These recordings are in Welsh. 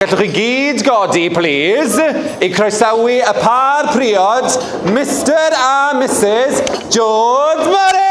Gallwch chi gyd godi, plîs, i croesawu y pâr priod, Mister a Misus George Morris!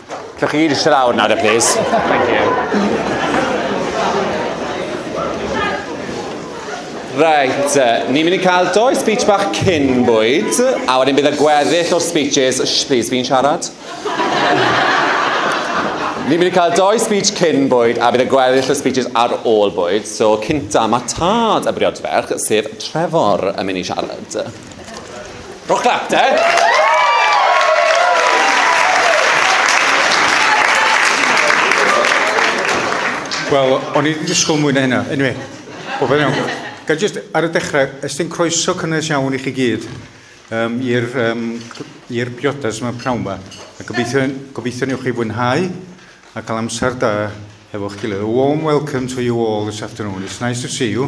Lle chi gyd eisiau lawr nawr, please. Thank you. Reit, ni'n mynd i cael doi speech bach cyn bwyd, a wedyn bydd y gweddill o'r speeches... Shh, please, fi'n siarad. Ni'n mynd i cael doi speech cyn bwyd a bydd y gweddill y speeches ar ôl bwyd. So, cynta, mae tad y briodferch, sef Trevor, yn mynd i siarad. Rhowch clap, de? Wel, o'n i wedi disgwyl mwy na hynna. Anyway, o fel iawn. Ga just ar y dechrau, ystyn croeso cynnes iawn i chi gyd um, i'r um, i'r priodas yma prawn yma. A gobeithio, gobeithio newch chi fwynhau a cael amser da hefo'ch gilydd. A warm welcome to you all this afternoon. It's nice to see you.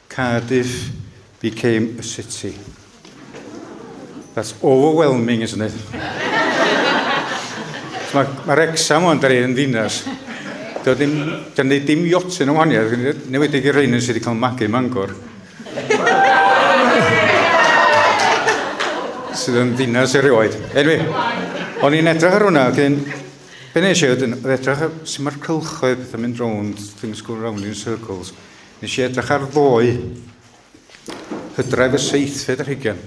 Cardiff became a city. That's overwhelming, isn't it? Mae ma Rexham o'n dweud yn ddinas. Doedd dim, dyn ni dim iotyn o waniad, newedig i'r rhain yn sydd wedi cael magu mangor. sydd yn ddinas erioed. Enwi, o'n i'n edrych ar hwnna, dyn, be nes i oedd yn edrych ar sy'n mae'r cylchoedd yn mynd rownd, things go round in circles. Nes i edrych ar ddoe, hydref y seithfed yr hugen.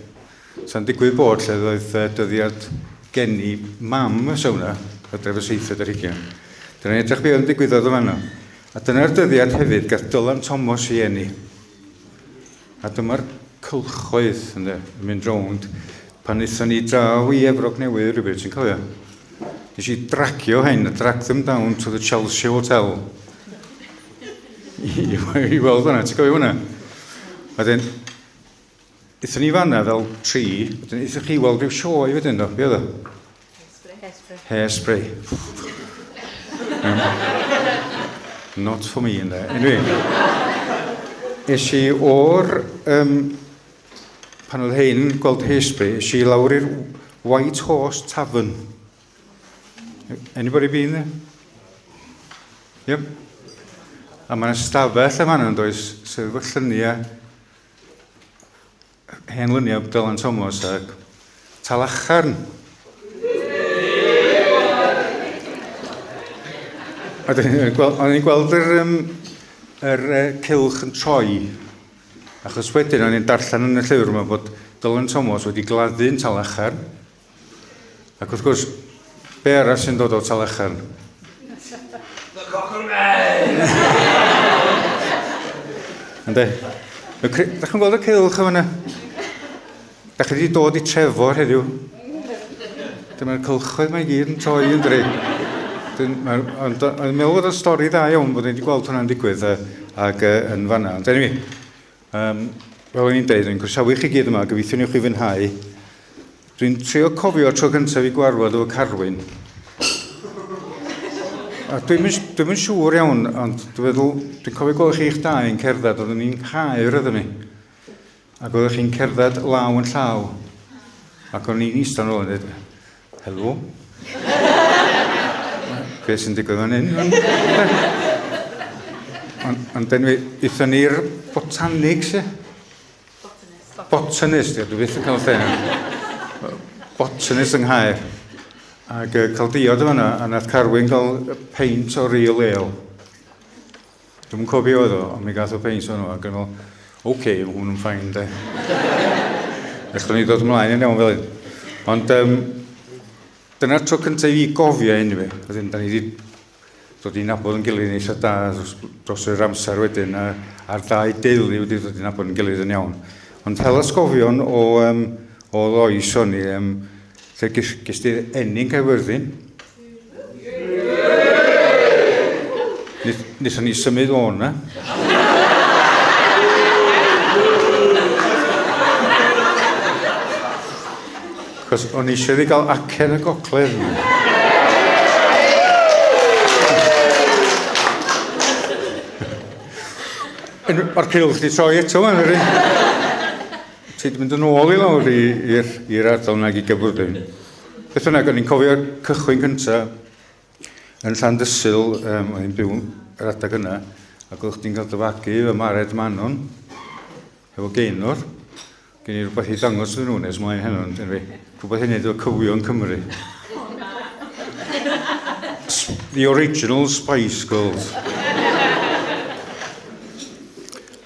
Sa'n digwydd bod lle ddoedd dyddiad geni mam y sawna, hydref y seithfed yr hugen. Dyna'n edrych be oedd yn digwyddodd y fanno. A dyna'r dyddiad hefyd gath Dylan Thomas i enni. A dyma'r cylchoedd yn mynd rownd pan wnaethon ni draw i Efrog Newydd rhywbeth, ti'n cofio? Nes i dragio hyn, drag them down to the Chelsea Hotel. I weld hwnna, ti'n cofio hwnna? Wedyn, ithon ni fanna fel tri, wedyn ithon chi weld rhyw sioe wedyn, do, be oedd o? Hairspray. Hairspray. Not for me, ynddo. Anyway, es i o'r, um, pan oedd hyn, gweld Hairspray, es i lawr i'r White Horse Tavern. Anybody been there? Yep. A mae'n ystafell yma yna, does, sef efo lluniau, hen lyniau Dylan Thomas a Talacharn. A dyn ni'n gweld, o'n i'n gweld yr, um, yr uh, cilch yn troi, achos wedyn o'n i'n darllen yn y llyfr yma bod Dylan Thomas wedi gladdu'n talachar, Ac wrth gwrs, be arall sy'n dod o Talecharn? The Cocker Man! Ynddo? Da chi'n gweld y cilch o fyna? Da chi wedi dod i trefo heddiw. Dyma'r cylchoedd mae gyd yn troi yn dri. Ond yn meddwl bod y stori dda iawn bod wedi gweld hwnna'n digwydd ac yn fanna. Ond anyway, Um, fel o'n i'n deud, rwy'n croesawu chi gyd yma, gobeithiwn i chi fwynhau. Dwi'n trio cofio tro cyntaf i gwarfod o Carwyn. A dwi'n dwi yn siŵr iawn, ond dwi'n meddwl, dwi'n cofio gweld chi'ch dau yn cerdded, oeddwn ni'n cael rydyn ni. Ac oeddech chi'n cerdded law yn llaw. Ac o'n i'n eistedd yn ôl yn dweud, Helo? Be sy'n digwydd fan hyn? Ond on, dyn ni, eithon ni'r botanics, e? Botanist. Botanist, ie, dwi beth yn cael lle. Botanist yng Nghaer. Ac uh, cael diod o fanna, a nath Carwyn gael peint o real ale. Dwi'm yn cofio oedd o, ond mi gath o peint o'n nhw, ac yn fel, oce, okay, mae hwn yn ffain, de. Echon ni ddod ymlaen yn iawn fel hyn. Ond um, dyna'r tro cyntaf i gofio hyn i fi. Wedyn, da ni wedi dod i'n nabod yn gilydd yn eitha da dros, dros yr amser wedyn, a, a'r dau deulu wedi dod i'n nabod yn gilydd yn iawn. Ond hel ysgofion o, um, o loes o'n i, um, Fe ges di'r enyn Caerfyrddin. Nethon ni symud o na. Cos o'n i eisiau ei gael acen y gogledd. Mae'r cilch di troi eto fan yr un. Felly, dwi'n mynd yn ôl i lawr i'r ardal nag i gyfwrddyn. Beth bynnag, o'n i'n cofio'r cychwyn cyntaf yn llan dysil, um, o'n i'n byw yr adag yna, ac oeddech chdi'n cael dyfagu y mared manon, efo geinwr. Gen i rhywbeth i ddangos iddyn nhw nes mlaen heno, yn dyn fi. Rhywbeth i wneud efo cyfwyo yn Cymru. The original Spice Girls.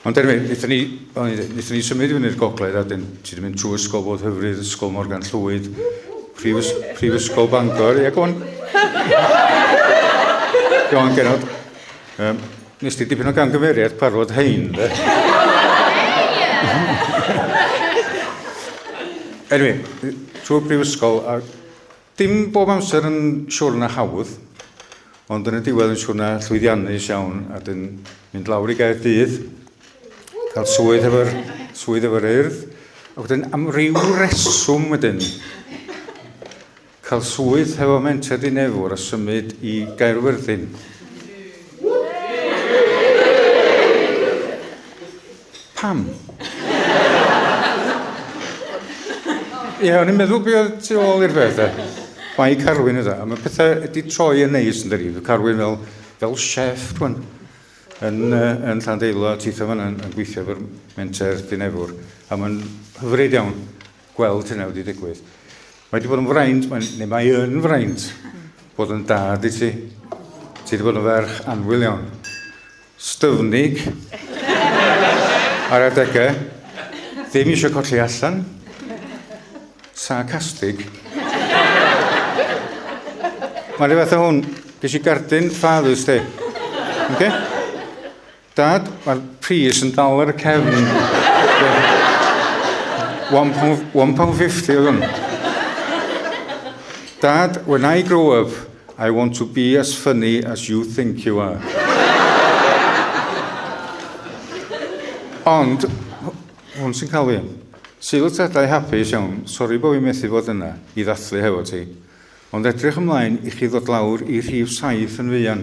Ond anyway, wnaethon ni, wnaethon ni symud i fyny'r gogledd a dyn, ti wedi mynd trwy ysgol bod hyfryd, ysgol Morgan Llwyd, prifysgol Bangor, ie, gwan. Gwan, genod. Um, nes ti dipyn o gangymeriad parod hein, dde? Anyway, trwy brifysgol, a dim bob amser yn siwr na hawdd, ond yn y diwedd yn siwr na llwyddiannus iawn, a dyn mynd lawr i gael dydd, cael swydd efo'r swydd efo'r urdd, a wedyn am ryw reswm wedyn, Cael swydd hefo Menter Dinefwr a symud i Gaerfyrddin. Pam? Ie, yeah, o'n i'n meddwl beth oedd tu ôl i'r peth. Mae i Carwyn yda. Mae pethau wedi troi yn neis yn dyri. Mae Carwyn fel, fel chef rwan yn, uh, yn Llandeilo a titha fan yn, yn gweithio efo'r menter dinefwr. A mae'n hyfryd iawn. gweld hynna wedi digwydd. Mae wedi bod yn fraint, mae, neu mae yn fraint, bod yn dad i ti. Ti wedi bod yn ferch anwyl iawn. Styfnig. Ar adegau. Ddim eisiau colli allan. Sarcastig. Mae'n rhywbeth o hwn. Ges i gardyn ffadus ti. Okay? Dad, mae'r pris yn dal ar y cefn. £1.50 oedd hwn. Dad, when I grow up, I want to be as funny as you think you are. Ond, hwn sy'n cael fi. Sil tadau hapus iawn, sori bod fi methu bod yna i ddathlu hefo ti. Ond edrych ymlaen i chi ddod lawr i rhif saith yn fuan.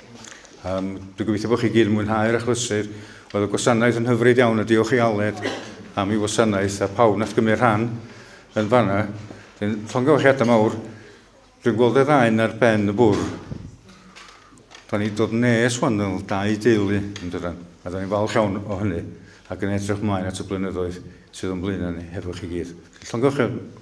Um, dwi'n gobeithio bod chi gyd yn mwynhau'r achlysur. Oedd y gwasanaeth yn hyfryd iawn a diolch i Aled am ei wasanaeth a pawb nath gymryd rhan yn fanna. Dwi'n llongyfarchiadau mawr. Dwi'n gweld y ddain ar ben y bwr. Da ni dod nes wan fel dau deulu yn dydan. A da ni'n falch iawn o hynny ac yn edrych mlaen at y blynyddoedd sydd o'n blaenau ni hefo chi gyd. Llongyfarchiadau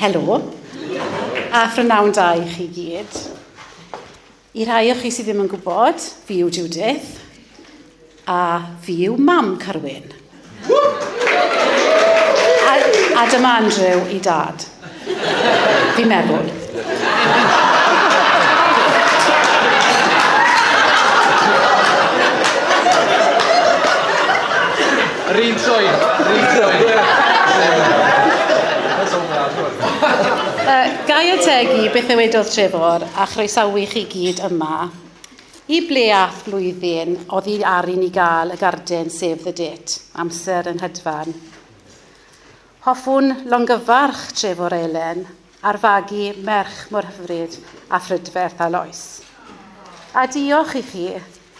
Helo, a phrynawn da i chi gyd. I rai o chi sydd ddim yn gwybod, fi yw Judith, a fi yw mam Carwyn. A, a dyma Andrew i dad. Fi'n meddwl. Yr un troi, yr un troi. Uh, gai ategu beth ddywedodd Trefor a chroesawu chi gyd yma. I ble ath blwyddyn oddi ar i ni gael y garden sef the date, amser yn hedfan. Hoffwn longyfarch Trefor Elen ar fagu merch mor hyfryd a phrydferth a Lois. A diolch i chi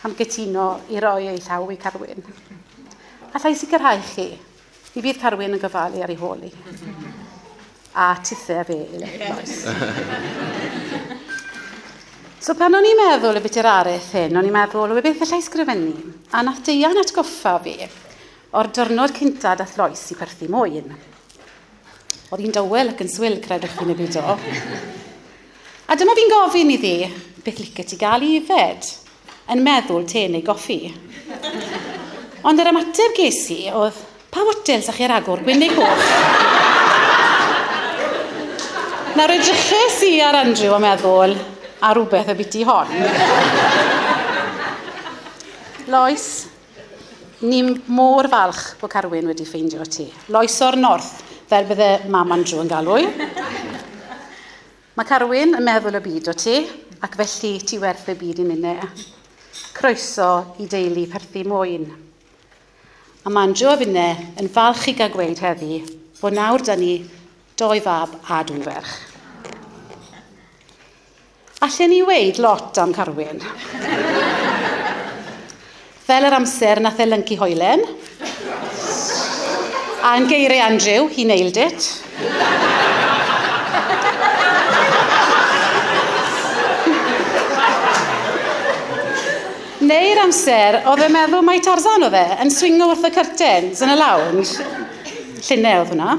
am gytuno i roi ei llaw i Carwyn. Allai sicrhau chi, mi fydd Carwyn yn gofalu ar ei hôl i. A tithe a fe, Elen, Lois. So pan o'n i'n meddwl y biti'r areth hyn, o'n i'n meddwl, o beth allai sgrifennu? A nath Deian atgoffa fi O'r diwrnod cynta dath Lois i perthi mwyn. Oedd hi'n dywel ac yn swil, credwch chi neu beidio. A dyma fi'n gofyn iddi, beth licio ti gael i yfed? Yn meddwl te neu goffi. Ond yr ymateb ges i oedd, pa wotels â chi ar agor, gwyn neu coch? Nawr edryches i ar Andrew a meddwl, a rhywbeth y biti hon. Lois, Ni mor falch bod Carwyn wedi ffeindio ti. Loes o'r North, fel bydde Mam Andrew yn galw i. Mae Carwyn yn meddwl y byd o ti, ac felly ti werth y byd i ninne. Croeso i deulu perthi mwyn. A mae Andrew a finne yn falch i gael gweud heddi bod nawr da ni doi fab a dwy ferch. Allen i weud lot am Carwyn. Fel yr amser nath e lyncu hoelen. A yn geiriau Andrew, he nailed it. Neu'r amser oedd e'n meddwl mai Tarzan oedd e, yn swingo wrth y curtains yn y lounge. Llunau oedd hwnna.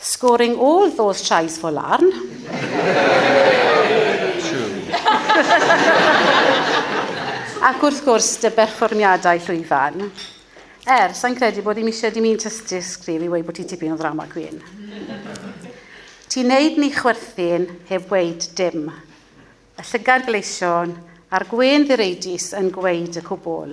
Scoring all those tries for Larn. Ac wrth gwrs, dy berfformiadau llwyfan. Er, sa'n credu bod i'n eisiau dim un tystysgrif i weid bod ti tipyn o ddrama gwyn. Ti'n neud ni chwerthin heb weid dim. Y llygad gleision a'r gwên ddireidus yn gweid y cwbl.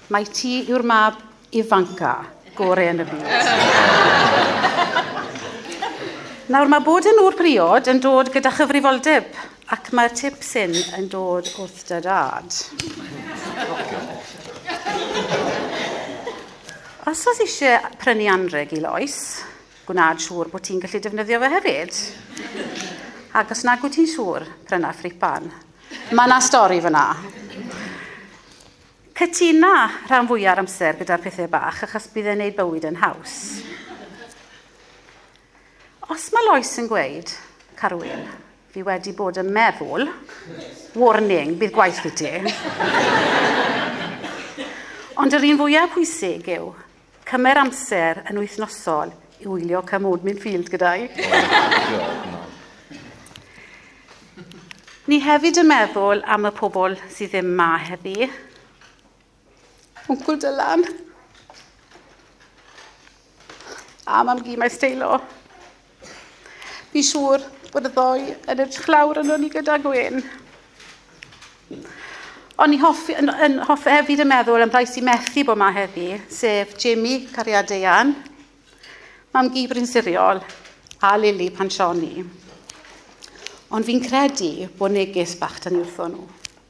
Mai ti yw'r mab ifanca gore yn y byd. Nawr mae bod yn ŵr priod yn dod gyda chyfrifoldeb ac mae'r tip syn yn dod wrth dy dad. Os oes eisiau prynu anreg i Lois, gwnaed siŵr bod ti'n gallu defnyddio fe hefyd. Ac os nag wyt ti'n siŵr, pryna ffripan. Mae yna stori fyna. Cytuna rhan fwya'r amser gyda'r pethe bach achos bydd e'n neud bywyd yn haws. Os mae Lois yn gweud, Carwyn, fi wedi bod yn meddwl, warning, bydd gwaith i ti. Ond yr un fwyaf pwysig yw, Cymer amser yn wythnosol i wylio Come Old Min Field gyda i. Ni hefyd yn meddwl am y pobl sydd ddim ma heddi. Wncwl Dylan. A mam gi mae steilo. Fi siŵr bod y ddoe yn edrych lawr yn ni gyda Gwyn. Ond ni hoffi, yn, yn hoffi hefyd yn meddwl am rai sy'n methu bod yma heddi, sef Jamie, cariad Deian, mam Gibrin Siriol, a Lili Pansioni. Ond fi'n credu bod neges bach dan ni wrthon nhw.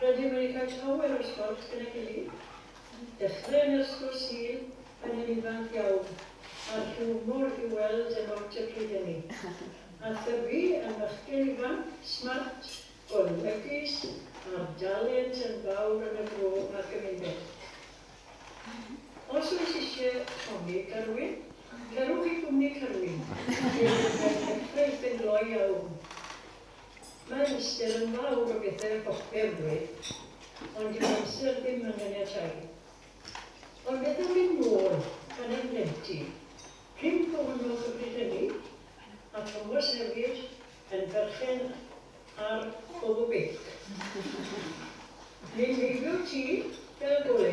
Rydym wedi cael llawer o sgwrs gyda'i gilydd. Dechreuwn i'r sgwrs Sul, pan yn ifanc iawn, a'r hiwmor i'w weld yn ot y pryd ynni. A Thyfi yn fachgen ifanc, smart, golygus, â'r dalent yn fawr yn y bro a'r gymuned. Os oes isie tonic, Garwyn? Cerwch i gwmni Carwyn, lle bydd eich effaith yn gloi a wn. Mae ystyr yn fawr o bethau a bob perwydd, ond dyw amser ddim yn ganiatáu. Ond beth am fynd nôl gan ein blentyn? Prin fo honnodd y bryd hynny, a Thomas hefyd, yn berchen ar Bobo Beic. Ni'n heibio'r tŷ fel gole.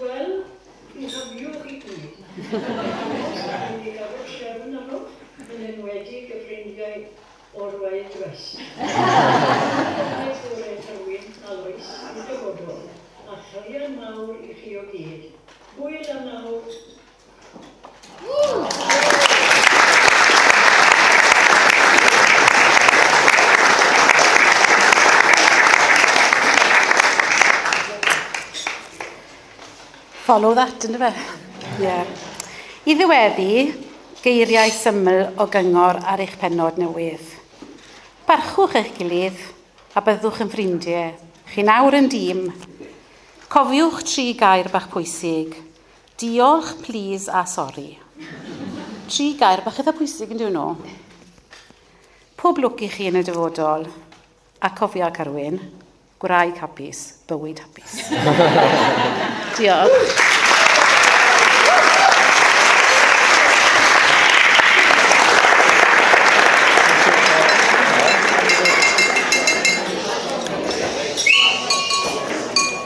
Wel, mi hafiodd i gyd. Os da ni di gadw trefn arnoch, yn enwedig y ffrindiau o'r Wild West. Clywed gore Tywyn a Lois yn y dyfodol, a chariad mawr i chi o gyd. Hwyl am nawr! Follow that, yn fe? Yeah. I ddiweddu, geiriau syml o gyngor ar eich penod newydd. Barchwch eich gilydd a byddwch yn ffrindiau. Chi'n awr yn dîm. Cofiwch tri gair bach pwysig. Diolch, plîs a sori. Tri gair bach eitha pwysig yn dyn nhw. Pob lwc i chi yn y dyfodol. A cofia, Carwyn, gwraig hapus, bywyd hapus. Diolch.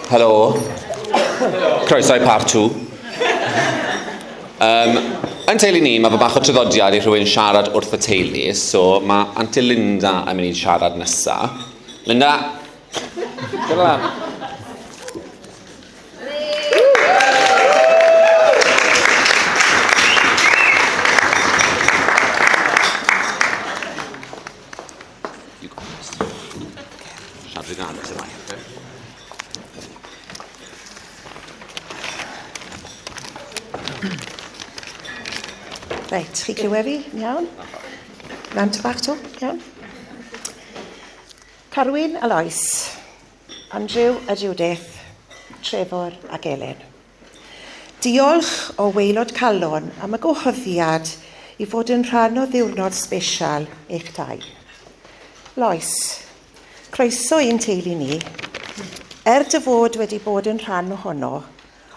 Helo. Croeso i part 2. Um, yn teulu ni, mae fy bach o traddodiad i rhywun siarad wrth y teulu, so mae Auntie Linda yn mynd i siarad nesa. Linda! Dyna. You got this. Siarad i gael, sy'n rhaid, okay? Reit, chi clywed fi? Iawn? Lan to bach to, iawn? Carwyn a Lois, Andrew a Judith, Trevor ac Elin. Diolch o waelod calon am y gwahoddiad i fod yn rhan o ddiwrnod sbesial eich dau. Lois, croeso i'n teulu ni. Er dy fod wedi bod yn rhan ohono,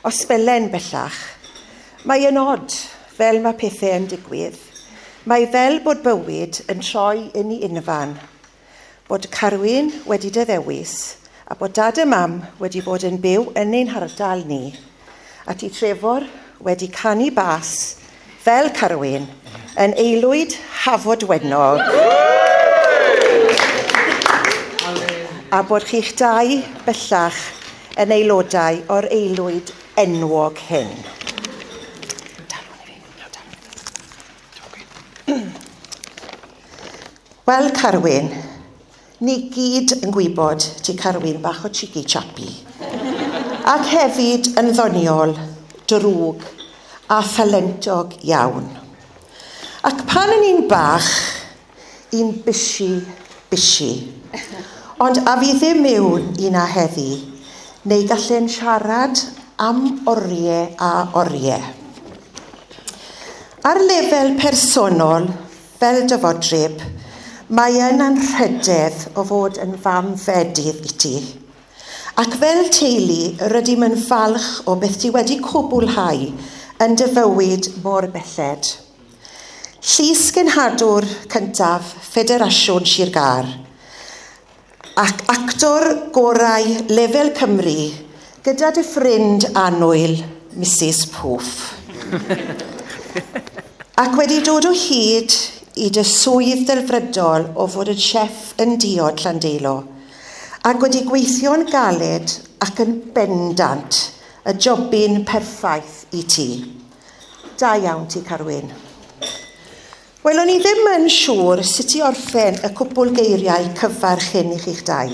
os belen bellach, mae yn od fel mae pethau yn digwydd. Mae fel bod bywyd yn troi yn i unfan. bod Carwyn wedi dy ddewis a bod dad a mam wedi bod yn byw yn ein hardal ni, a ti Trefor wedi canu bas fel Carwyn yn Eilwyd Hafod Wenog a bod chi'ch dau bellach yn aelodau o'r Eilwyd enwog hyn. Wel Carwyn, ni gyd yn gwybod ti Carwyn bach o chiggy chappy. Ac hefyd yn ddoniol, drwg a thalentog iawn. Ac pan o'n i'n bach, un bishi bishi. Ond a fi ddim yw un a heddi, neu gallen siarad am orie a orie. Ar lefel personol, Fel dyfodryb, mae e'n anrhydedd o fod yn fam fedydd i ti. Ac fel teulu, rydym yn falch o beth ti wedi cwblhau yn dy fywyd mor belled. Llys-genhadwr cyntaf Ffederasiwn Sir Gâr. ac actor gorau lefel Cymru gyda dy ffrind annwyl, Misus Poof. ac wedi dod o hyd i dy swydd delfrydol o fod yn chef yn diod Llandeilo, ac wedi gweithio'n galed ac yn bendant y jobyn perffaith i ti. Da iawn ti, Carwyn. Wel, o'n i ddim yn siŵr sut i orffen y cwpwl geiriau cyfarch hyn i chi'ch dau.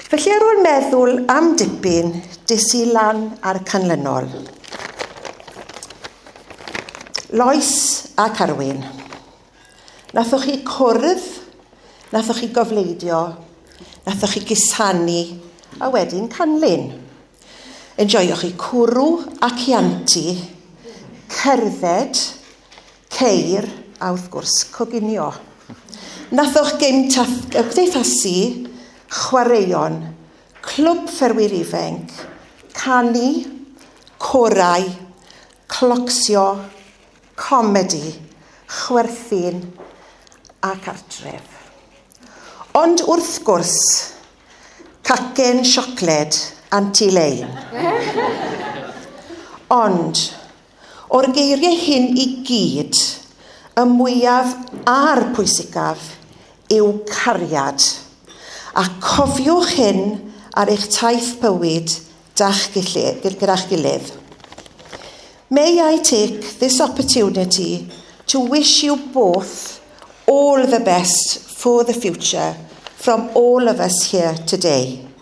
Felly ar ôl meddwl am dipyn, des i lan a'r canlynol. Lois a Carwyn, nathoch chi cwrdd, nathoch chi gofleidio, nathoch chi gusanu, a wedyn canlyn. Enjoioch chi cwrw a cianti, cerdded, Ceir, a wrth gwrs, coginio. Nathoch gynt a gymdeithasu, chwaraeon, clwb fferwyr ifenc, canu, corau, clocsio, comedi, chwerthin ac artref. Ond wrth gwrs, cacen siocled Anti Lane. Ond, O'r geiriau hyn i gyd, y mwyaf a'r pwysicaf yw cariad. A cofiwch hyn ar eich taith bywyd da'ch gilydd, gyda'ch gilydd. May I take this opportunity to wish you both all the best for the future from all of us here today.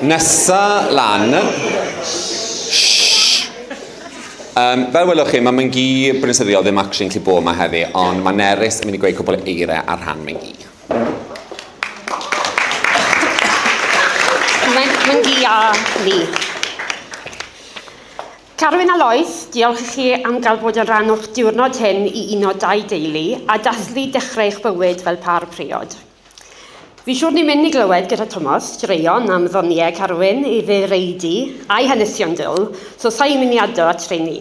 Nesa lan. Um, fel welwch chi, mae Myngi Brynysyddiol ddim actually yn gallu bod yma heddi, ond mae Nerys yn mynd i gweud cwbl eiriau ar rhan Myngi. Myngi a Lee. Carwyn a Lois, diolch i chi am gael bod yn rhan o'ch diwrnod hyn i uno dau deulu a dathlu dechrau eich bywyd fel pâr priod. Fi siwr ni'n mynd i glywed gyda Tomos straeon am ddoniau Carwyn, ei ddireidi a'i hanesion dwl, so sa i'n mynd i addo at rheini.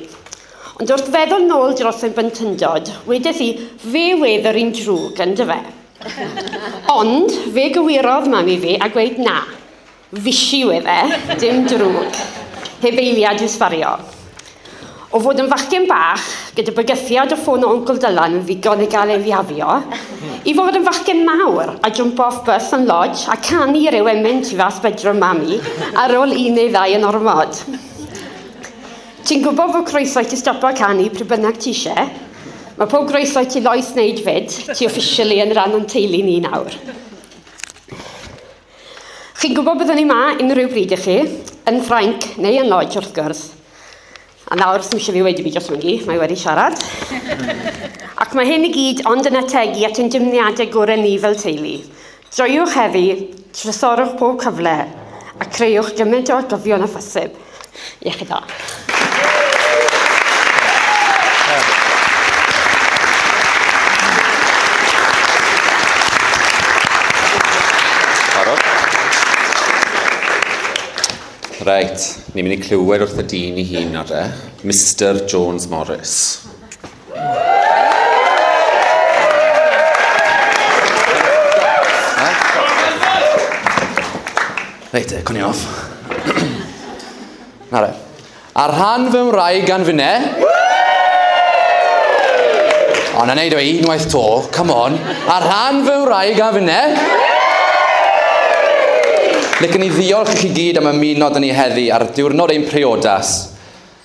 Ond wrth feddwl nôl dros fy blentyndod, wedes i, fe wedd yr un drwg, yndyfe? Ond fe gywirodd mam i fi a gweud na. Fishi yw efe, dim drwg. Heb eiliad i'w sbario. O fod yn fachgen bach, gyda bygythiad o ffôn o Wncl Dylan yn ddigon i gael ei fiafio, i fod yn fachgen mawr a jwmpo off bus yn lodge a canu i'r ewemin tu fas bedroom mami ar ôl un neu ddau yn ormod. Ti'n gwybod fod croeso i ti stopo canu pryd bynnag ti eisiau? Mae pob groeso i ti Lois wneud fyd, ti officially yn rhan o'n teulu ni nawr. Chi'n gwybod byddwn ni ma unrhyw bryd i chi, yn Ffrainc neu yn Lloyd wrth gwrs. A nawr, sy'n eisiau fi wedi fi dros myngi, mae wedi siarad. Ac mae hyn i gyd ond yn ategu at ein dymniadau gorau ni fel teulu. Joiwch heddi, trysorwch pob cyfle, a creuwch gymaint o atgofion a phosib. Iechyd da. Reit, ni'n mynd i clywed wrth y dyn i hun nawr de. Mister Jones Morris. Reit, e, cwni off. Na re. Ar rhan fy mraig gan fynne. O, na neud o e unwaith to, come on. Ar rhan fy mraig gan fynne. Licen i ddiolch i chi gyd am ymuno dyn ni heddi ar diwrnod ein priodas.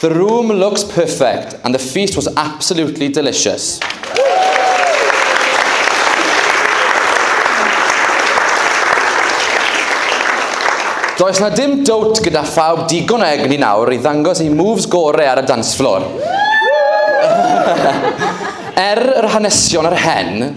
The room looks perfect and the feast was absolutely delicious. Does na dim dwt gyda phawb digon o egni nawr i ddangos ei moves gore ar y dance floor. er yr hanesion ar hen,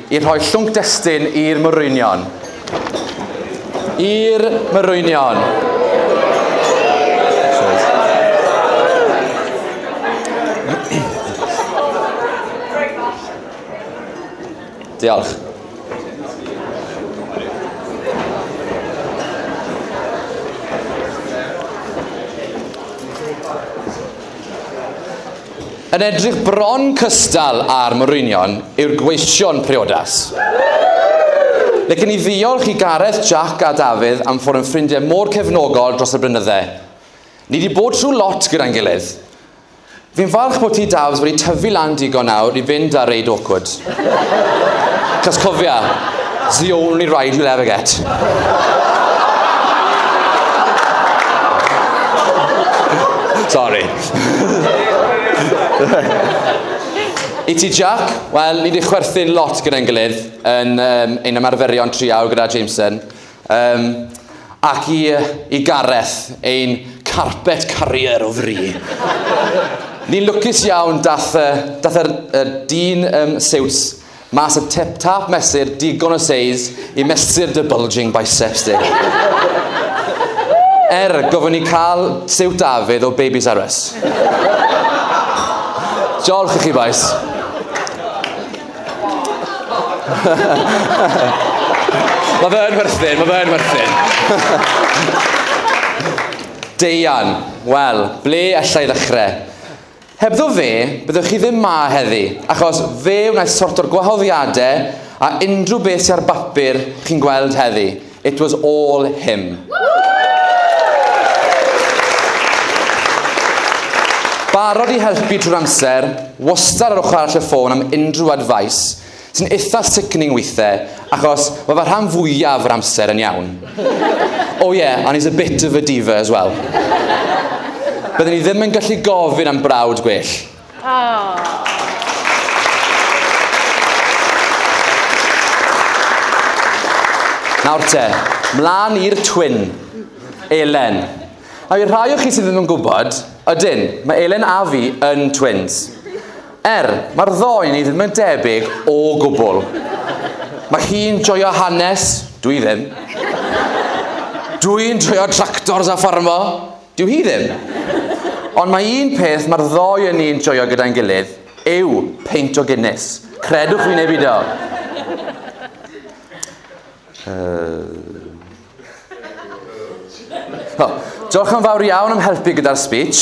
I rhoi llwnc destun i'r Morwynion. I'r Morwynion. Diolch. Yn edrych bron cystal â'r Morwynion yw'r gweision priodas. Lecen i ddiolch i Gareth, Jack a Dafydd am fod yn ffrindiau mor cefnogol dros y blynydde. Ni di bod trwy lot gyda'n gilydd. Fi'n falch bod ti Dafs wedi tyfu lan digon nawr i fynd ar reid awkward. Cos cofia, it's the only ride you'll ever get. Sorry. I ti Jack, wel, ni wedi chwerthin lot gyda'n gilydd yn um, ein ymarferion triaw gyda Jameson. Um, ac i, i Gareth, ein carpet carrier o fri. Ni'n lwcus iawn dath, uh, dath yr, er, dyn um, siwts Mas y tip tap mesur digon o seis i mesur dy bulging biceps di. Er, gofyn i cael siwt David o Babies R Us. Diolch i chi bois. Mae fe yn werthyn, mae fe yn werthyn. Deian, wel, ble allai ddechrau? Hebddo fe, byddech chi ddim 'ma heddi, achos fe wnaeth sorto'r gwahoddiadau a unrhyw beth sy ar bapur chi'n gweld heddi, it was all him. Barod i helpu trwy'r amser, wastad ar ochr arall y ffôn am unrhyw advice, Sy'n itha sickening weithe, achos mae fy rhan fwyaf yr amser yn iawn. Oh yeah, and he's a bit of a diva as well. Byddwn ni ddim yn gallu gofyn am brawd gwell. Nawr te, mlaen i'r twin, Elen. Nawr i'r rhai o chi sydd ddim yn gwybod, ydyn, mae Elen a fi yn twins. Er, mae'r ddoi ni ddim yn debyg o gwbl. Mae hi'n joio hanes, dwi ddim. Dwi'n joio tractors a ffarmo, dyw hi ddim. Ond mae un peth mae'r ddoi yn ni'n joio gyda'n gilydd yw peint o Guinness. Credwch fi neu beidio. Oh, diolch yn fawr iawn am helpu gyda'r speech.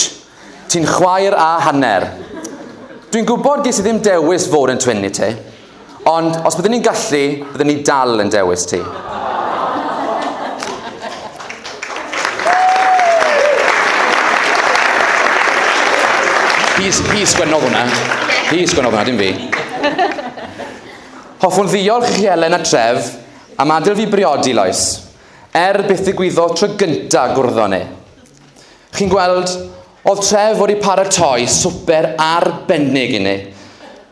Ti'n chwaer a hanner. Dwi'n gwybod ges i ddim dewis fod yn twin i ti, ond os byddwn ni'n gallu, byddwn ni dal yn dewis ti. Hi sgwennodd hwnna. Hi sgwennodd hwnna, dim fi. Hoffwn ddiolch i chi Elen a Trev am adael fi briodi Lois, er byth ddigwyddodd tro gyntaf gwrddon ni. Chi'n gweld, oedd Trev wedi paratoi swper arbennig i ni.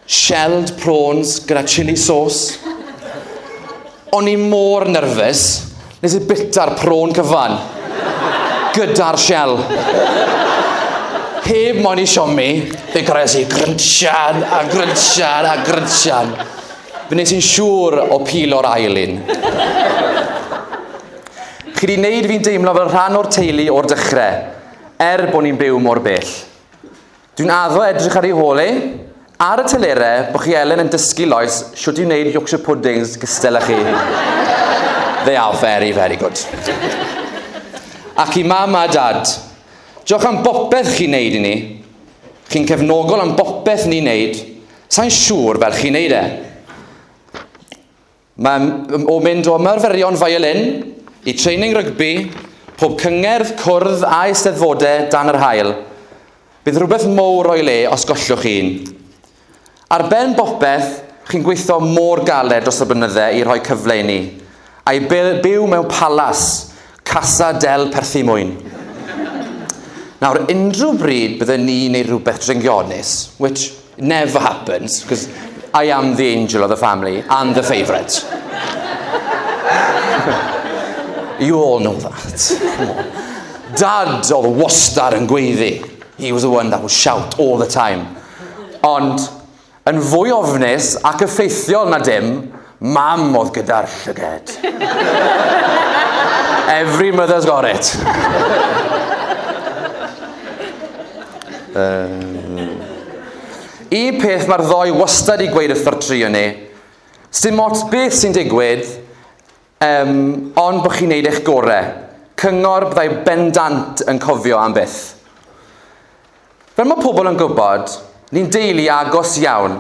Shelled prawns gyda chili sauce. O'n i mor nyrfys, Nes i bita'r prawn cyfan. Gyda'r shell. Heb moyn i siomi, fe gres i grynsian a grynsian a grynsian. Fe nes i'n siŵr o pil o'r ail un. Chi di wneud fi'n deimlo fel rhan o'r teulu o'r dechrau, er bod ni'n byw mor bell. Dwi'n addo edrych ar ei hôl e, ar y telere, bod chi Elen yn dysgu Lois siwt i wneud Yorkshire puddings gystel â chi. They are very, very good. Ac i mam a dad, diolch am bopeth chi'n neud i ni. Chi'n cefnogol am bopeth ni'n neud. Sa'n siŵr fel chi'n neud e. Mae o mynd o ymarferion violin i training rygbi, pob cyngerdd, cwrdd a eisteddfode dan yr haul. Bydd rhywbeth mowr o'i le os gollwch un. Ar ben bopeth, chi'n gweithio mor galed dros y blynydde i rhoi cyfle i ni, a'i byw mewn palas, Casa del Perthymwyn. Nawr, unrhyw bryd bydden ni neu rhywbeth dringionus, which never happens, because I am the angel of the family and the favourite. you all know that. Dad oedd wastad yn gweiddi. He was the one that would shout all the time. Ond Yn fwy ofnus ac effeithiol na dim, mam oedd gyda'r llyged. Every mother's got it. um, un peth mae'r ddoi wastad i gweud wrth y tri yn ni, sy'n mots beth sy'n digwydd, Yym, ond bod chi'n neud eich gore. Cyngor byddai bendant yn cofio am byth. Fel mae pobl yn gwybod, ni'n deulu agos iawn,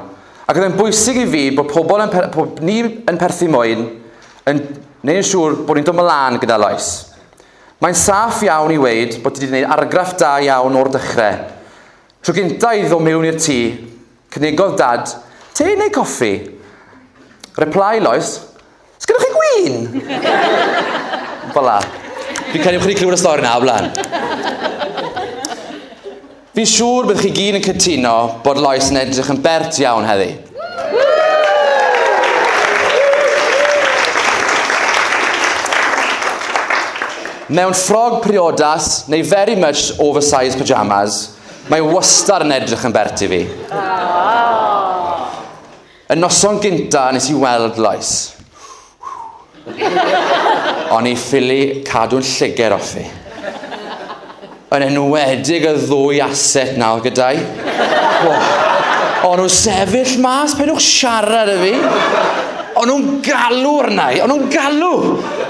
ac oedd e'n bwysig i fi bod pobl yn per, bod ni yn perthyn mwyn, yn neud yn siŵr bod ni'n dod mlaen gyda loes. Mae'n saff iawn i weud bod ti wedi gwneud argraff da iawn o'r dechrau. Tro gynta i ddo mewn i'r tŷ, Cynigodd Dad, Te neu coffi? Reply Lois, Sgynnoch chi gwin? Fel la. Fi'n credu bod chi wedi clywed y stori yna o blaen. Fi'n siŵr bydd chi gyd yn cytuno bod Lois yn edrych yn bert iawn heddi. Mewn ffrog priodas neu very much oversized pyjamas, Mae wastad yn edrych yn bert i fi. Y noson gynta nes i weld loes. O'n i ffili cadw'n llyger off i. Yn enwedig y ddwy aset nawr gyda'i. Oh. O'n nhw'n sefyll mas, penwch siarad y fi. O'n nhw'n galw arnau, o'n nhw'n galw.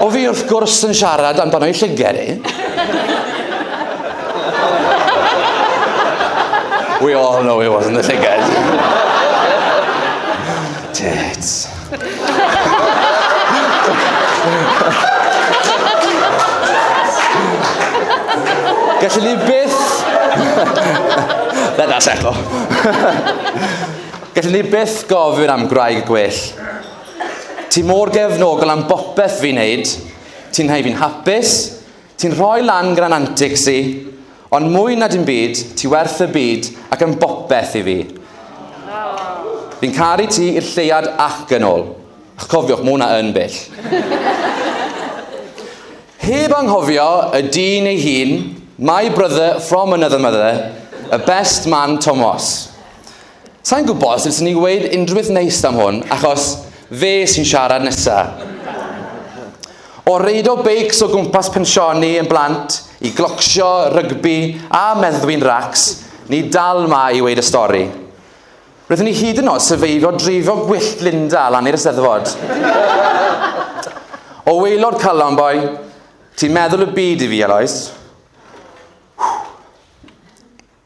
O fi wrth gwrs yn siarad amdano'i llyger i. We all know it wasn't the llygad. Tits. Gallwn ni byth... Let that settle. Gallwn ni byth gofyn am gwraig gwell. Ti mor gefnogol am bopeth fi'n neud. Ti'n hau fi'n hapus, Ti'n rhoi lan gran antics i, ond mwy na dim byd, ti werth y byd ac yn bopeth i fi. Fi'n caru ti i'r lleuad ac yn ôl. Ych cofiwch, mae hwnna yn bell. Heb anghofio y dyn ei hun, my brother from another mother, y best man Tomos. Sa i'n gwybod sut swn i'n gweud unrhywbeth neis am hwn, achos fe sy'n siarad nesa. O reido beics o gwmpas pensioni yn blant, i glocsio, rygbi a meddwi'n racs, ni dal 'ma i weud y stori. Roeddwn i hyd yn oed syfeifio dreifio gwyllt Linda lan i'r Eisteddfod. O waelod calon boi, ti'n meddwl y byd i fi, Eloise.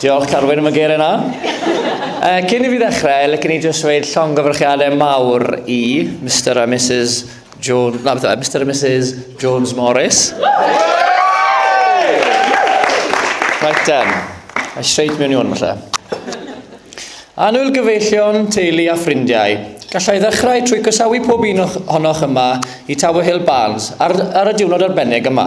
Diolch Carwyn am y geiriau na. Uh, cyn i fi ddechrau, licen i jyst dweud llongyfarchiadau mawr i Mr a Mrs Jones, na beth Mr a Mrs Jones Morris. Right then, I straight mewn i hwn falle. Anwyl gyfeillion, teulu a ffrindiau, gallai ddechrau trwy gysawu pob un ohonoch yma i Tower Hill Barns ar, ar y diwrnod arbennig yma.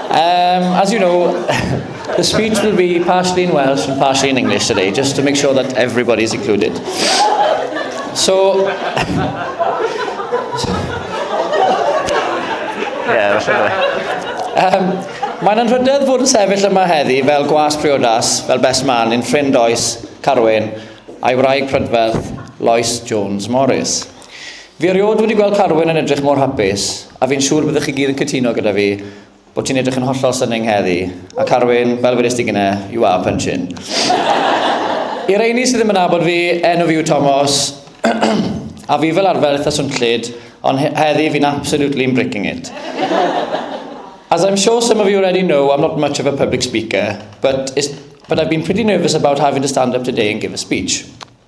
Um, as you know, the speech will be partially in Welsh and partially in English today, just to make sure that everybody is included. So... yeah, um, Mae'n anrhydedd fod yn sefyll yma heddi fel gwas priodas, fel best man, yn ffrind oes, Carwyn, a'i wraig prydferth, Lois Jones Morris. Fi erioed wedi gweld Carwyn yn edrych mor hapus, a fi'n siŵr byddwch chi gyd yn cytuno gyda fi bod ti'n edrych yn hollol stunning heddi, a Carwyn, fel wedys ti gyne, you are punching. I reini sydd ddim yn abod fi, enw fi yw Tomos, a fi fel arfer eitha swnllyd, ond heddi fi'n absolutely yn breaking it. As I'm sure some of you already know, I'm not much of a public speaker, but, but I've been pretty nervous about having to stand up today and give a speech.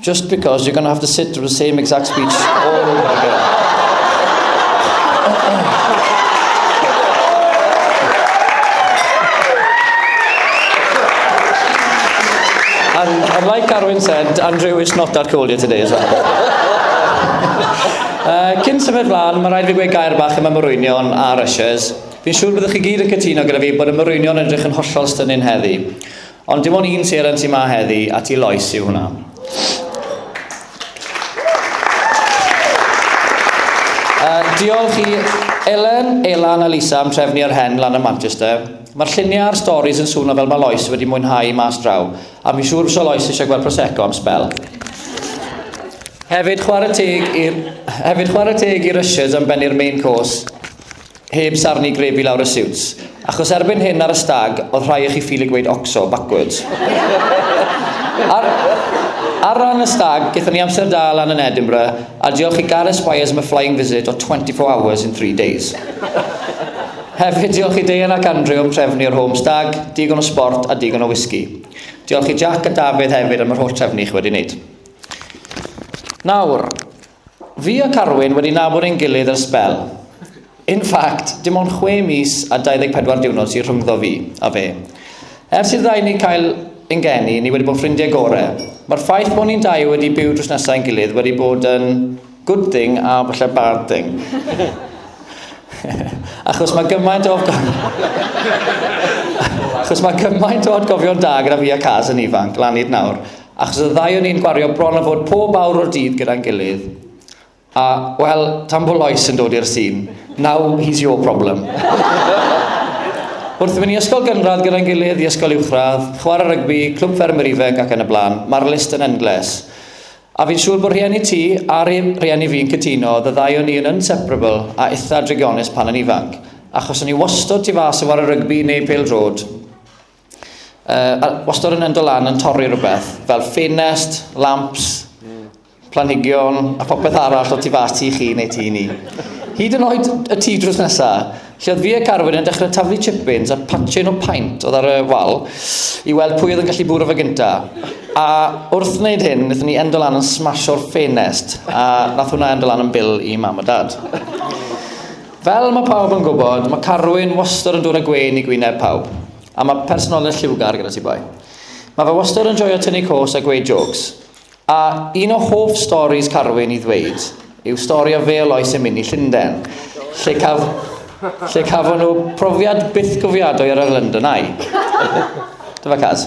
Just because you're going to have to sit through the same exact speech all over again. and, and like Carwyn said, Andrew is not that cold here today as well. uh, cyn symud flan, mae rhaid fi gweud gair bach yma morwynion a rushers. Fi'n siŵr byddwch chi gyd yn cytuno gyda fi bod y morwynion yn edrych yn hollol stynin heddi. Ond dim ond un seren sy'n ma heddi, a ti Lois yw hwnna. Uh, diolch i Elen, Elan a Lisa am trefnu ar hen lan yn Manchester. Mae'r lluniau a'r storys yn swnio fel mae Lois wedi mwynhau mas draw, a mi siŵr fysa Lois eisiau gweld Prosecco am spel. Hefyd chwarae teg i'r hefyd chwarae teg i'r Russias am bennu'r main course. Heb sarni grep i lawr y siwts. Achos erbyn hyn ar y stag, oedd rhai o chi ffili gweud oxo, backwards. ar, ar ran y stag, gyda ni amser da lan yn Edinburgh, a diolch i Gareth Spires am y flying visit o 24 hours in 3 days. Hefyd, diolch i Deian ac Andrew am trefnu o'r home stag, digon o sport a digon o whisky. Diolch i Jack a Dafydd hefyd am yr holl trefnu chi wedi wneud. Nawr, Fi a Carwyn wedi nabod ein gilydd ers sbel. In fact, dim ond chwe mis a 24 diwrnod sydd rhyngddo fi a fe. Ers i'r ddau ni cael ein geni, ni wedi bod ffrindiau gore. Mae'r ffaith bod ni'n dau wedi byw drws nesa i'n gilydd wedi bod yn good thing a falle bad thing. Achos mae gymaint o... Achos mae cymaint o atgofion da gyda fi a Caz yn ifanc, lan hyd nawr. Achos y ddau o'n ni'n gwario bron a fod pob awr o'r dydd gyda'n gilydd, a, wel, tan bod Lois yn dod i'r sîn, now he's your problem. Wrth mynd i ysgol gynradd gyda'n gilydd, i ysgol uwchradd, chwarae rygbi, clwb ffermwyr ifanc ac yn y blaen, mae'r list yn endless. A fi'n siŵr bod rhieni ti a rhieni fi'n cytuno, the ddau o'n ni yn inseparable a itha drygionus pan yn ifanc, achos o'n ni wastod tu fas yn chwarae rygbi neu pêl drod. Uh, wastad yn endo lan yn torri rhywbeth, fel ffenest, lamps, planhigion a popeth arall o tu fas ti chi neu ti ni. Hyd yn oed y tŷ drws nesa, lle oedd fi a Carwyn yn dechrau taflu chippins a patchyn o paint oedd ar y wal i weld pwy oedd yn gallu bwrw fe gynta. A wrth wneud hyn, wnaethon ni endo lan yn smasio'r ffenest a nath hwnna endo lan yn bil i mam a dad. Fel mae pawb yn gwybod, mae Carwyn wastad yn dod â gwên i gwyneb pawb, a mae personoliaeth lliwgar gyda ti boi. Mae fe wastad yn joio tynnu cos a gweud jôcs. A un o hoff storis Carwyn i ddweud yw stori o Fêl Oes yn mynd i Llunden, lle, caf, lle cafon nhw profiad byth cofiadwy ar yr London Eye. Dyma Caz.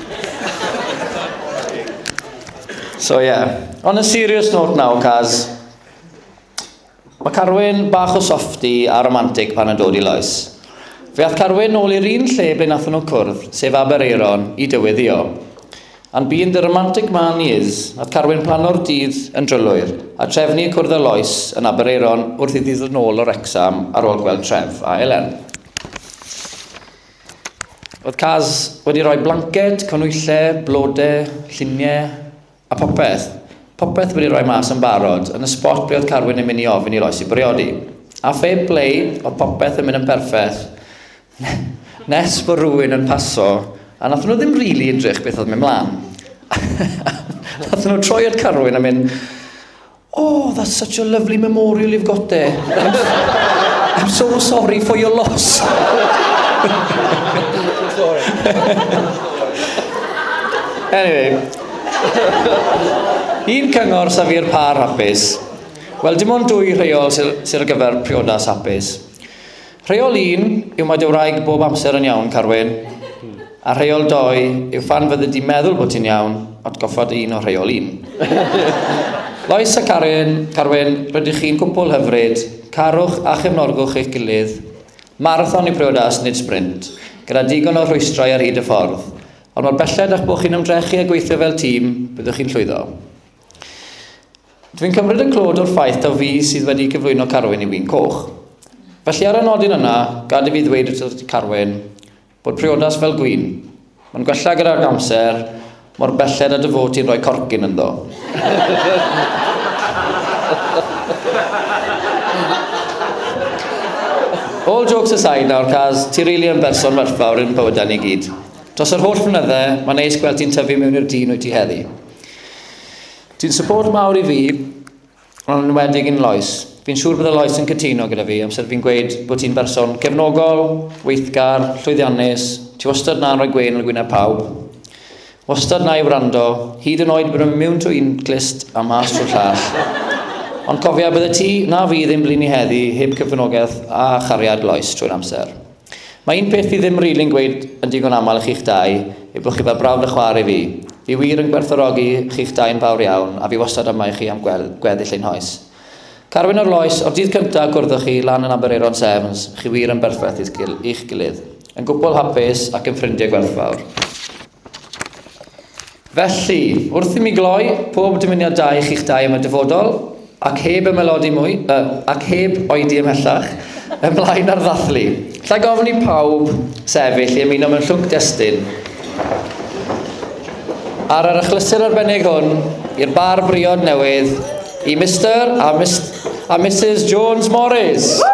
so yeah. On a serious note now, caz. Mae Carwyn bach o softi a romantic pan yn dod i loes. Fe ath Carwyn nôl i'r un lle ble nath nhw cwrdd, sef Aberaeron, i dyweddio. And being the romantic man he is, nath Carwyn plano'r dydd yn drylwyr, a trefnu cwrdd y loes yn Aberaeron wrth iddi ddod nôl o Wrecsam ar ôl gweld Tref a Elen. Oedd Kaz wedi rhoi blanced, conwylle, blodau, lluniau a popeth. Popeth wedi rhoi mas yn barod, yn y spot ble oedd Carwyn yn mynd i ofyn i Loisi bwriodi. A phe ble oedd popeth yn mynd yn perffeth nes bod rhywun yn paso a nathon nhw ddim rili edrych beth oedd mynd mlan. nathon nhw troi at Carwyn a mynd Oh, that's such a lovely memorial you've got there. I'm so sorry for your loss. anyway. Un cyngor sa fi'r par hapus. Wel, dim ond dwy rheol sy'n sy ar gyfer priodas hapus. Rheol un yw mae dy wraig bob amser yn iawn, Carwyn, a rheol dou yw phan fyddi di'n meddwl bod ti'n iawn, atgoffa dy hun o rheol un. Lois a Caryn, Carwyn, rydych chi'n gwpwl hyfryd, carwch a chefnogwch eich gilydd. Marathon yw priodas, nid sbrint, gyda digon o rhwystrau ar hyd y ffordd, ond mor belled a'ch bod chi'n ymdrechu a gweithio fel tîm, byddwch chi'n llwyddo. Dwi'n cymryd y clod o'r ffaith taw fi sydd wedi cyflwyno Carwyn i Win Coch. Felly ar y nodyn yna, gad i fi ddweud wrth ti Carwyn, bod priodas fel gwin. Mae'n gwella gyda'r amser, mor belled a dy fod ti'n rhoi corcyn ynddo. All jokes aside nawr, Caz, ti rili yn berson werthfawr i'n bywydau ni gyd. Dros yr holl flynydde, mae'n neis gweld ti'n tyfu mewn i'r dyn wyt ti heddi. Ti'n support mawr i fi, ond yn enwedig yn Lois. Fi'n siŵr bydde Lois yn cytuno gyda fi amser fi'n gweud bod ti'n berson cefnogol, weithgar, llwyddiannus, ti wastad na'n rhoi gwên ar gwyneb pawb. Wastad na i wrando, hyd yn oed bod yn miwn trwy un clust a mas trwy'r llall. Ond cofia, bydde ti na fi ddim blini heddi heb cyfranogaeth a chariad Lois trwy'r amser. Mae un peth fi ddim rili'n gweud yn digon aml i chi'ch dau yw bod chi fel brawd a chwaer i fi. Fi wir yn gwerthfawrogi chi'ch dau yn fawr iawn a fi wastad yma i chi am gweld gweddill ein hoes. Carwyn o'r Loes, o'r dydd cynta' y gwrddwch chi lan yn Aberaeron Sevens, chi wir yn berffaith i'ch gilydd. Yn gwpwl hapus ac yn ffrindie gwerthfawr. Felly, wrth i mi gloi, pob dymuniad da i chi'ch dau am y dyfodol, ac heb ymaelodi mwy, yy, ac heb oedi ymhellach, ymlaen â'r ddathlu. Alla i gofyn i pawb sefyll i ymuno mewn llwc destun? Ar yr achlysur arbennig hwn, i'r bar briod newydd, i Mister a, Mis a Mrs Jones Morris. Woo!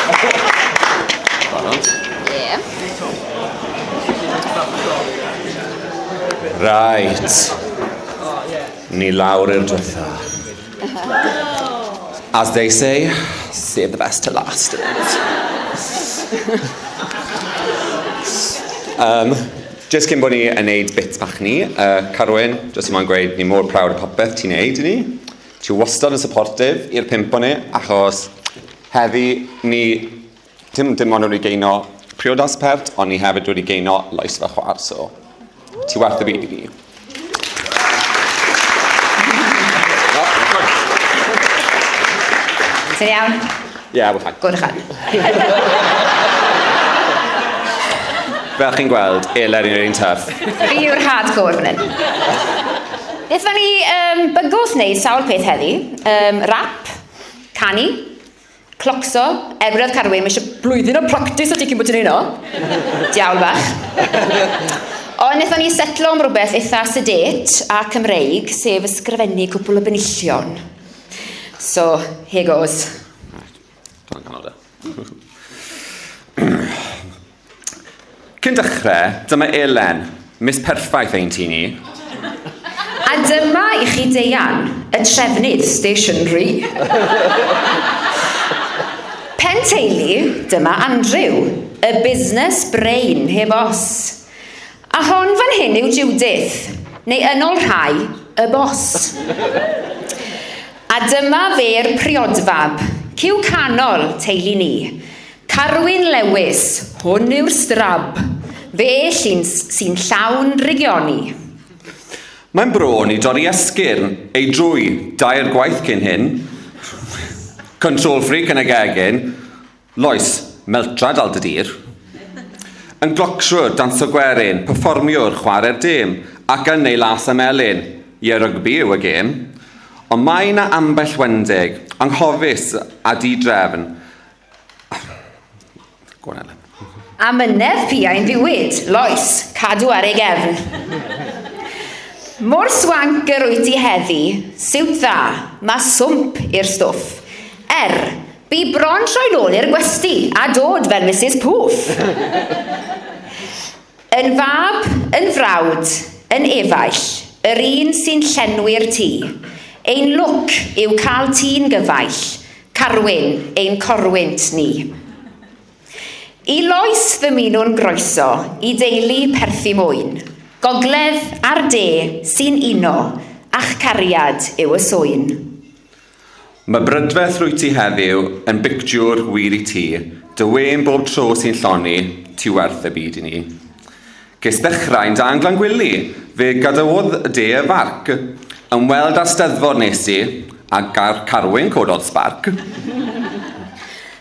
Right. Ni lawr i'r dwetha. As they say, save the best to last. um, Just cyn bod ni yn neud bits bach ni, uh, Carwyn, just yma'n gweud, ni mor prawd o popeth ti'n neud i ni. Ti wastad yn supportive i'r pimp o'n ni, achos Heddi, ni dim dim ond wedi geino priodas pert, ond ni hefyd wedi geino lais fy chwar, so ti werth y byd i ni. Ti'n iawn? Ie, yeah, we're fine. Gwrdd chan. Fel chi'n gweld, eler i'n ein taf. Fi yw'r hardcore fan hyn. Nethon ni um, bygwth wneud sawl peth heddi. Um, rap, Canu. Clocso. Er gwiriodd Carwyn, mae eisiau blwyddyn o practis o ti cyn bod ti'n ei no. Diawl bach. Ond wnaethon ni setlo am rhywbeth eitha sedate a Cymreig, sef ysgrifennu cwpl o benillion. So, here goes. Right. Tan canol da. Cyn dechrau, dyma Elen, mis perffaith ein tîn i. A dyma i chi Deian, y trefnydd stationery. Pen teulu, dyma Andrew, y busnes brain heb os. A hon fan hyn yw Judith, neu yn ol rhai, y bos. A dyma fe'r priodfab, cyw canol, teulu ni. Carwyn Lewis, hwn yw'r strab, fe llun sy'n llawn drigioni. Mae'n bron i dorri esgyrn ei drwy dair gwaith cyn hyn. Control freak yn y gegin. Lois, meltrad al dy dir. Yn glocsiwr, danso gwerin, perfformiwr, chware'r dêm, ac yn ei las a melyn. Ie, rygbi yw y gêm. Ond mae 'na ambell wendeg, anghofus a di-drefn, Amynedd piau'n ddiwyd, Lois, cadw ar ei gefn. Mor swanc yr wyt ti heddi, siwt dda, mae swmp i'r stwff. Er, bu bron troi'n ôl i'r gwesty a dod fel Misus Poof. Yn fab, yn frawd, yn efaill, yr un sy'n llenwi'r tŷ. Ein lwc yw cael tî'n gyfaill, Carwyn, ein corwynt ni. I Lois ddymunwn groeso i deulu Perthi Mwyn. Gogledd a'r de sy'n uno, a'ch cariad yw y swyn. Mae brydferth rwyt ti heddiw yn bictiwr wir i ti, dy wên bob tro sy'n lloni, ti werth y byd i ni. Ges ddechrau'n da yn Glangwili, fe gadawodd de y farc, ymweld â'r Steddfod nes i, a gar Carwyn cododd sbarc.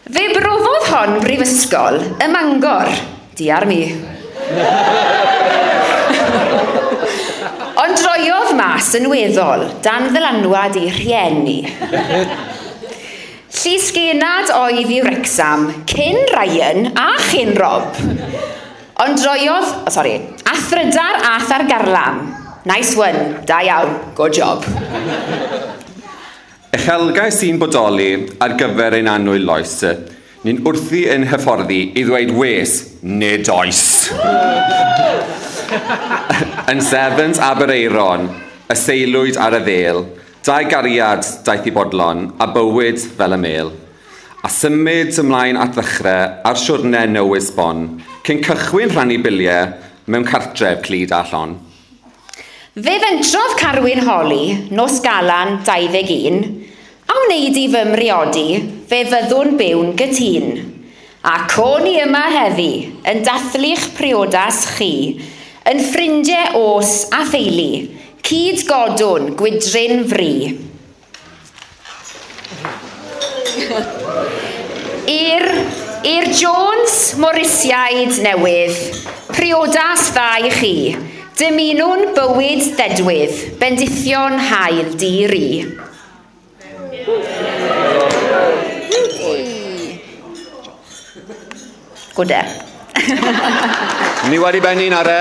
Fe brofodd hon Brifysgol ym Mangor. Di ar mi. Ond droiodd mas yn weddol, dan ddylanwad ei rhieni. Llys genad oedd i Wrecsam, cyn Ryan a chyn Rob. Ond droiodd, o sori, a thrydar a thargarlam. Nice one, da iawn, good job. Uchelgais sy'n bodoli ar gyfer ein annwyl loes. Ni'n wrthi yn hyfforddi i ddweud wes, nid oes! Yn Sevens Aberaeron, y seilwyd ar y ddêl, dau gariad daeth i bodlon, a bywyd fel y mêl. A symud ymlaen at ddechrau ar siwrne newydd sbon, cyn cychwyn rhannu biliau mewn cartref clyd a llon. Fe fentrodd Carwyn Holly, Nos Galan 21, A wneud i fy mhriodi, fe fyddwn byw'n gytun. A co ni yma heddi, yn dathlu'ch priodas chi, yn ffrindie os a theulu, cyd godwn gwydryn fri. I'r i'r Jones Morisiaid newydd, priodas dda i chi, dymunwn bywyd ddedwydd, bendithion hael di ri. Good air. Ni wedi benni'n ar e.